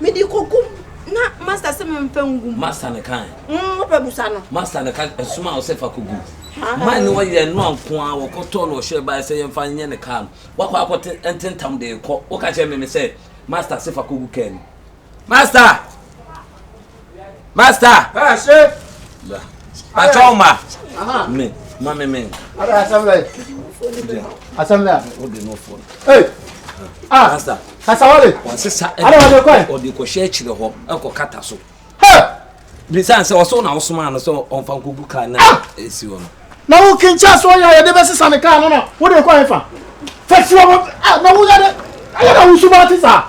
Mede kogu mu. Na Master se memfa ngu mu. Master no kae. Mm, wopɛ busa no. Master no ka ɛsom a ɔsɛ fa kogu mu. Mine ne ɔyɛ ɛnoa nko ara, wɔkɔtɔɔ no ɔhyɛɛ baeɛ sɛ yɛmfa nyɛ ne kaa no. Wakɔ akɔ te ntentam de rekɔ, woka kyerɛ me me sɛ Master se fa kogu kaa mu. Master! Master. Ah, shit. Patrol ma. Uh-huh. Me, ma me me. Ada assembly. Assembly. O de no phone. Hey. Ah. Master. Kasawale. Wa se sa. Ada wa de ko. O de ko share chire ho. E ko kata so. Hey. Bisan se o so na o so ma no so on fa ko gu ka na ah! e si wo no. Na wo kincha so ya ya de be sesa ne ka no na. Wo de ko en fa. Fa si wo. Ah, na wo ya de. Ayo na wo su ba ti sa.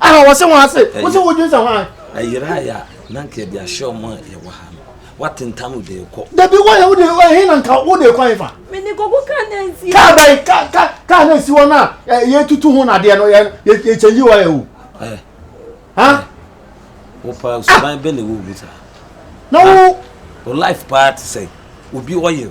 Aha wɔse ho ase. Wose wo dwensɛ hwan? Ayira ya na nka yɛde ahyɛ wɔn a yɛwɔ ha no. Watentam no de rekɔ. Dabi wɔyɛ wo de ɛhe na nka wo de rekɔ hefa? Me de kɔkɔ kaa na nsi. Kaa bɛyi ka ka kaa na nsi hɔ na yɛtutu ho nadeɛ no yɛ yɛkyɛnyi wɔ yɛ o. Ɛ. Ha? Wo pa suban bɛ na ɛwɔ mu saa. Na wo. Wo life paa te sɛ obi ɔyɛ.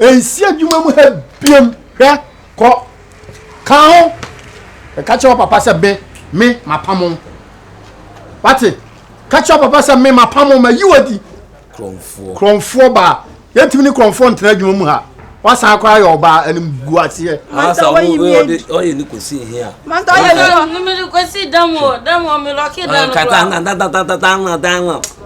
Ɛnsi adwuma mu ha biam hwɛ kɔ ka ho ɛka kyerɛ papa sɛ me me mapamo wate ka kyerɛ papa sɛ me mapamo ma yi wadi krɔmfoɔ krɔmfoɔ baa yɛntumi ne krɔmfoɔ ntena adwuma mu ha wasan akora yɛ ɔbaa anim gu aseɛ. asa wo ɔde ɔyɛ ne kosi ehi a. manta ɔyɛ ne kosi dɛm o dɛm o mi lɔki dɛm kura. kata na da da da da da da.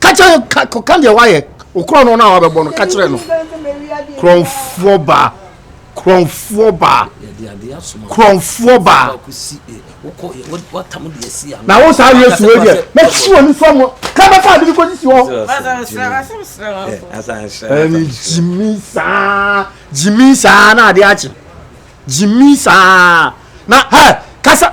ka kyerɛ no ka kɔka deɛ wayɛ wo korɔ no no a wabɛbɔ no ka kyerɛ no korɔmfoɔ baa korɔmfoɔ baa korɔmfoɔ baa na wo saa yɛ suo deɛ mɛsi wɔ ne fam ka bɛfa ade bi kɔsisi hɔ ɛne gyimi saa gyimi saa na ade akye gyimi saa na hɛ kasa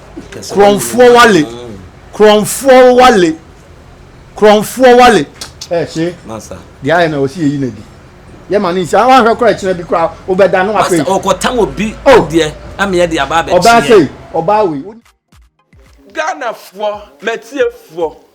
Kurɔnfoɔ wale Kurɔnfoɔ wale Kurɔnfoɔ wale ɛ se deɛ ayɛ na wɔsi yɛ yi na di yɛ ma ne nsi awa ahwɛ kora ɛkyina bi kora wobɛda no apɛ masa ɔkɔtam obi oh. deɛ ameɛ de aba abɛkyeɛ ɔbaa sei ɔbaa wei Ghanafoɔ, m'atiefoɔ,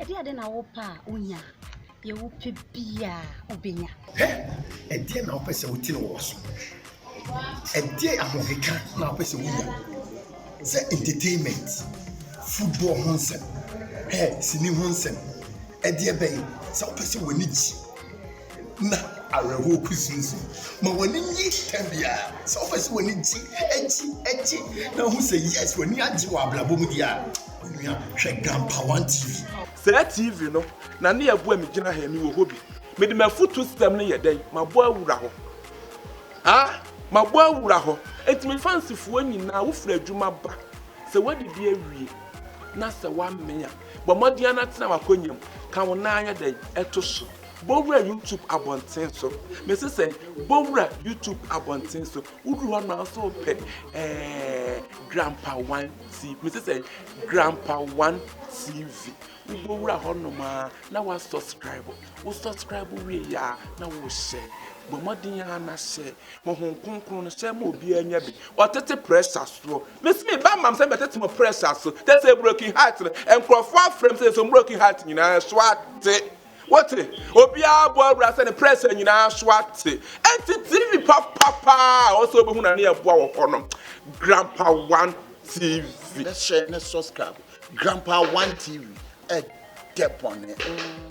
Ɛdeɛn de na wopɛ a wonya? Deɛ wopɛ biara wobɛnya. Hɛ! Ɛdeɛn na wopɛ sɛ wotene wɔ so? Ɛdeɛn ahokeka na wopɛ sɛ wonya? Sɛ entertainment, football ho nsɛm, hɛ, sini ho nsɛm, ɛdeɛ bɛn? Sɛ wopɛ sɛ w'ani gye. na awerɛhoɔ kusinsin. Ma w'ani nye tɛm biara. Sɛ wopɛ sɛ w'ani gye, gye, gye na wohu sɛ yes w'ani agye wɔ abrabɔ mu deɛ a, onua hwɛ Grampa One TV. Saa TV no na ne ɛboa me gyina ha yi, mewɔ hɔ bi. Mede m'afutuo system no yɛ dɛn? Mabɔ awura hɔ. Ah! Mabɔ awura hɔ. Enti me fans foɔ nyinaa, wo firi adwuma ba, sɛ w'adidi awie, na sɛ w'amee a, bɔ mmɔden ara na tena w'akonya mu, ka wo nan ayɛ dɛn? To so. Bɔwura YouTube abɔnten so. Mese sɛn? Bɔwura YouTube abɔnten so. Woduru hɔ no nso pɛ ɛɛ Grandpa One TV. Mese sɛn? Grandpa One TV. Wobɔwura hɔ nom a na wa subscribe. Wo subscribe wie yɛ a na wohyɛ. Bɔ mmɔden ara na hyɛ. Honhom kronkron no hyɛ ma obiara nya bi. Ɔtete pressure soɔ. Mese me ba mam sɛ bɛtete mo pressure so. Tɛ sɛ broken heart no nkurɔfoɔ afrɛ m sɛ yɛsɔ broken heart nyinaa so ate. Wote? Obiara bɔ awura sɛ ne prɛsɛ nyinaa so ate. Enti TV papa paa a ɔsɛ obehu na ne yɛ boa wɔ hɔ no. Grandpa One TV. Ne hyɛ ne subscribe. Grandpa One TV. Ɛdɛ bɔne.